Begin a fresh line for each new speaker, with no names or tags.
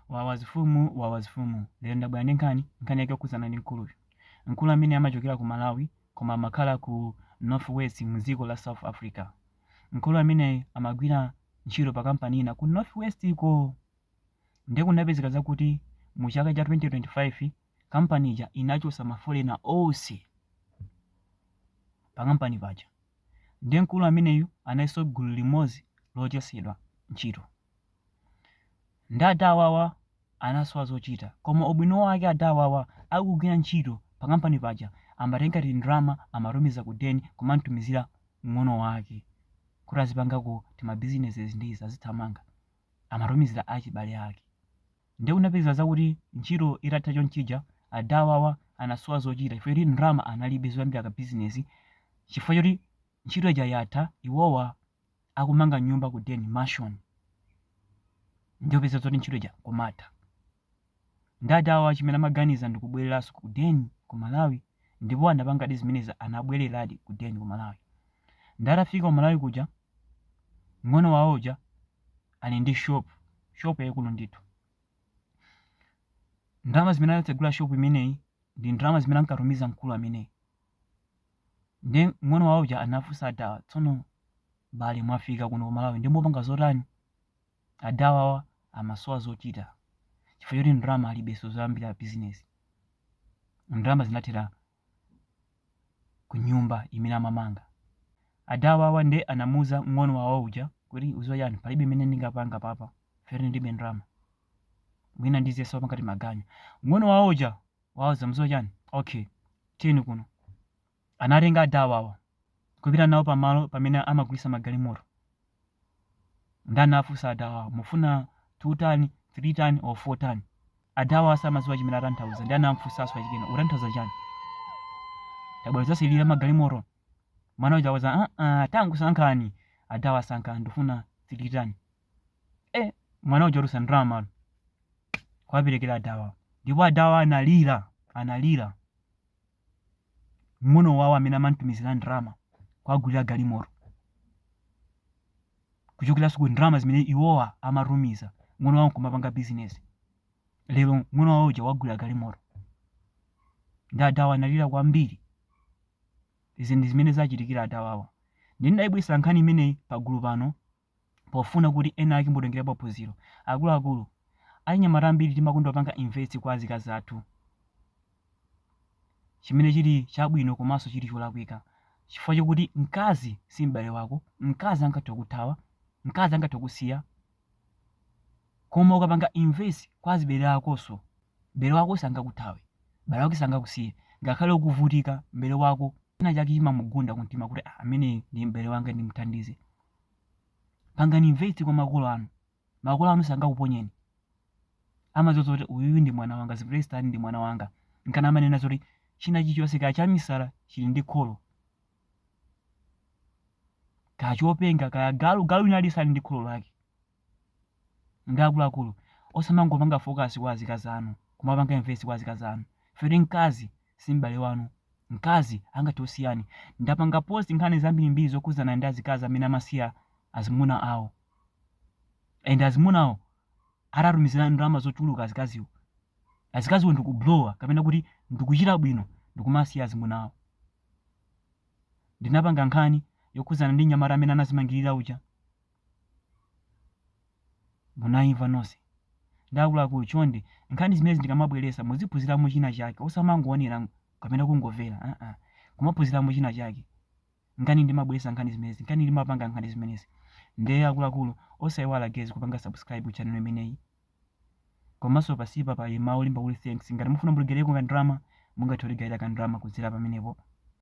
Wawa zifumu wawa zifumu. Lero ndabwera ndi nkhani, nkhani yake yokhudzana ndi mkuluyu. Mkulu ameneyi amachokera ku Malawi koma amakhala ku North West mu dziko la South Africa. Mkulu ameneyi amagwira ntchito pa kampani ina ku North West ko. Ndiye kunapezeka zakuti mu chaka cha 2025 kampani ija inachotsa mafolena onse pa kampani paja. Ndiye mkulu ameneyu analinso gulu limodzi lochotsedwa ntchito. Nde ada awawa anasowa zochita koma ubwino wake ada awawa akugwira ntchito pa kampani paja amatenga ngati ndrama amatumiza ku den kumantumizira mng'ono wake kuti azipangako tima businesses ndizi azithamanga amatumizira achibale ake nde kunapezeka zakuti ntchito itatha chonchija ada awawa anasowa zochita chifukwa choti ndrama analibe zoyambira ka business chifukwa choti Ntchito ija yatha iwowa akumanga nyumba ku den mansion nde kupeza zoti ntchito ija kumatha nde adawawa chimene amaganiza ndikubwereraso ku den ku Malawi ndipo anapangadi zimenezi anabwereradi ku den ku Malawi nde atafika ku Malawi kuja mng'ono wawo uja ali ndi shop shop yaikulu ndithu ndalama zimene anatsegula shop imeneyi ndi ndalama zimene ankatumiza mkulu ameneyi Nde mng'ono wawo uja anafunsa adawa, tsono bale mwafika kuno ku Malawi nde mupanga zotani? Adawawa amasowa zochita chifukwa choti ndalama alibenso zoyambira bizinesi. Ndalama zinathera ku nyumba imene amamanga. Adawawa nde anamuuza mng'ono wawo uja kuti, udziwa chani, palibe imene ndingapange apapa chifukwa choti ndilibe ndalama. Mwina ndiziyesapo ngati maganyu. Mng'ono wawo uja wawauza muziwa chani okay tiyeni kuno anatenga adawawa kupita nawo pamalo pamene amagulisa magalimoto nde anafusa adawawa mufuna 2 tani 3 tani or 4 tani adawa samaziwa chimene atanthauza ndi anamfusaso achikena utanthauza chani tabwera zasilira magalimoto mwana uja wauza uh -uh, tangosankhani adawa sankhani ndifuna 3 tani eh mwana uja kutulusa ndalama kwaperekera adawa ndipo adawa analira analira mng'ono wawo amene amamtumizira ndalama kwagulira galimoto kuchokeranso ku ndalama zimene iwowa amatumiza mng'ono wawo nkumapanga bizinesi lero mng'ono wawo uja wagulira galimoto ndi adawa analira kwambiri izi ndi zimene zachitikira adawawa ndinayibweresa nkhani imeneyi pagulu pano pofuna kuti ena ake atengerepo phunziro. Akuluakulu, achinyamata ambiri timakonda kupanga invest kwa azikazi athu chimene chili chabwino komanso chili cholakwika chifukwa chokuti mkazi si m'bale wako, mkazi angathe kukuthawa, mkazi angathe kukusiya koma ukapanga invest kwa azibale akonso, m'bale wako sangakuthawe, m'bale wako sangakusiye ngakhale ukuvutika m'bale wako china chake chimamugunda kumtima kuti ah ameneyu ndi m'bale wanga ndimuthandize. pangani invest kwa makolo anu makolo anu sangakuponyeni amadziwa zoti uyuyu ndi mwana wanga ziprestan ndi mwana wanga nkana amanena zoti china chilichonse kaya chamisala chili ndi kholo kaya chopenga kaya galu galu nayenso ali ndi kholo lake Nde akuluakulu osamangopanga focus kwa azikazi anu kumapanga invest kwa azikazi anu chifukwa choti mkazi si m'bale wanu. Mkazi angathe kukusiyani. Ndapanga post nkhani zambirimbiri zokhudzana ndi azikazi amene amasiya azimuna awo and azimunawo atatumizira ndalama zochuluka azikaziwo, azikaziwo ndi kublowa kapena kuti ndi kuchita bwino ndi kumasiya azimuna awo. Ndinapanga nkhani yokhudzana ndi mnyamata amene anazimangirira uja. Munaimva nonse nde akuluakulu chonde nkhani zimenezi ndikamabweretsa muziphunziramo china chake osamangoonera kapena kungomvera aa kumaphunziramo china chake nkani ndimabweretsa nkhani zimenezi nkani ndimapanga nkhani zimenezi nde akuluakulu osaiwala guys kupanga subscribe channel imeneyi komanso pansipa pali mawu olemba kuti thanks ngati mufuna mutigaireko ka ndalama mungathe kutigaira ka ndalama kudzera pamenepo